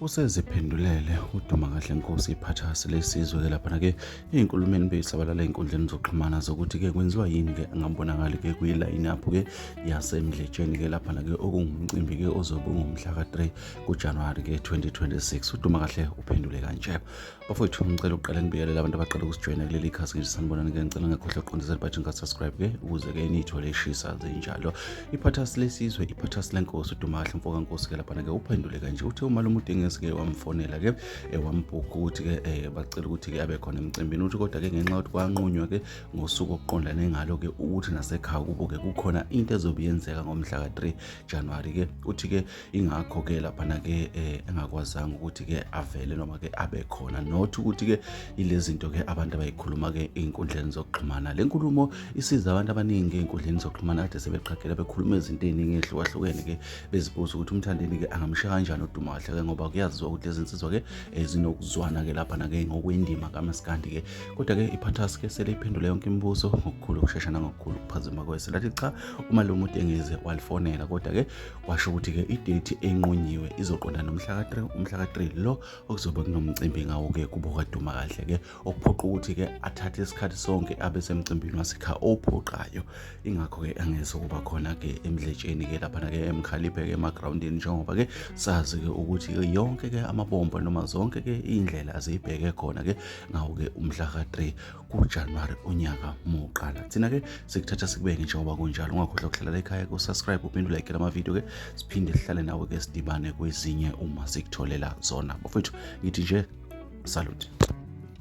useziphendulele uduma kahle nkosi iphathasi lesizwe-ke laphana-ke ey'nkulumeni beyisabalala ey'nkundleni zokuxhumana zokuthi-ke kwenziwa yini-ke angabonakali-ke kwilayini apho-ke yasemdletsheni-ke laphana-ke okungumcimbi-ke ozobe ungumhla ka-3 kujanuwari-ke 2026 uduma kahle uphendule kanje bafowethu ngicela ukuqala nibikelela abantu abaqala ukusijoyina kuleli khasi ngisho sanibonani ke ngicela ngakhohlwa ukuqondisa libhathi ngasubscribe ke ukuze ke niyithole ishisa zinjalo iphathasi lesizwe iphathasi lenkosi udumahle mfo kankosi ke laphana ke uphendule kanje uthe umalume udengesi ke wamfonela ke eh, wambhuka ukuthi ke eh, bacela ukuthi ke abe khona emcimbini uthi kodwa ke ngenxa yokuthi kwanqunywa ke ngosuku okuqondane ngalo ke ukuthi nasekhaya kubo ke kukhona into ezobe yenzeka ngomhla ka-3 January ke uthi ke ingakho ke laphana ke eh, engakwazanga ukuthi ke avele noma ke abe khona not ukuthi ke ilezinto ke abantu abayikhuluma ke einkundleni zokuxhumana le nkulumo isiza abantu abaningi einkundleni zokuxhumana kade sebeqhagela bekhuluma izinto eziningi ezihlukahlukene ke bezibuza ukuthi umthandeni ke angamshiya kanjani uduma kahle ke ngoba kuyaziwa ukuthi lezi nsizwa ke eh, zinokuzwana ke laphana ke ngokwendima kamaskandi ke kodwa ke iphathas ke sele iphendule yonke imibuzo ngokukhulu ukushesha nangokukhulu ukuphazima kweselathi cha uma lo muntu engeze walifonela kodwa ke washo ukuthi-ke idethi enqunyiwe izoqonda nomhla ka-3 umhla ka-3 lo okuzobe kunomcimbi ngawo-ke kubo kaduma kahle-ke okuphoqa ukuthi-ke athathe isikhathi sonke abe semcimbini wasekha ophoqayo ingakho-ke angeze kuba khona-ke emdletsheni-ke laphana-ke emkhaliphe-ke emagrawundini njengoba-ke sazi-ke ukuthi-ke yonke-ke amabombo noma zonke-ke iy'ndlela aziyibheke khona-ke ngawo-ke umhla ka-3 kujanuwari unyaka muqala thina ke sikuthatha sikubeke njengoba kunjalo ungakhohlwa kuhlalela ekhaya kusubscribe uphinde ulayikele amavidiyo ke siphinde sihlale nawe ke sidibane kwezinye uma sikutholela zona bafowethu ngithi nje salute